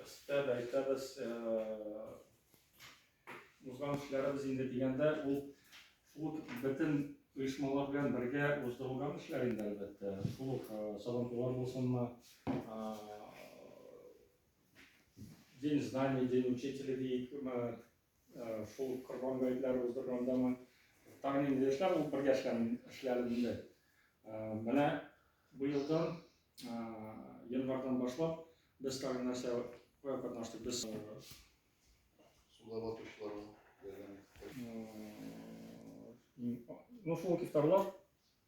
Өстәп әйтәбез, узган эшләребез инде дигәндә, ул шул ук бөтен оешмалар белән бергә уздырылган эшләр инде, әлбәттә. Шул ук сабантуйлар булсынмы, день знаний, день учителя, Шул корбан гаетләре уздыргандамы, тагын инде яшьләр булып бергә эшләдем инде. Менә быелдан, январьдан башлап, без тагын нәрсә катнаштык. Без суда батучыларга ярдәм иттек. Ну, шул ифтарлар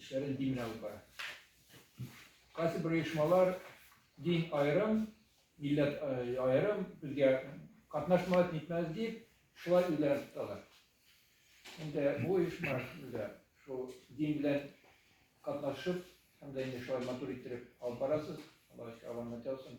Эшләрен дин белән алып бара. Кайсы бер оешмалар дин аерым, милләт аерым, безгә катнашмас, нитмәс дип, шулай үзләрен тоталар. Инде бу оешма безгә шул дин белән катнашып, һәм дә инде шулай матур иттереп алып барасыз. Алла ишек аванны тәвсен.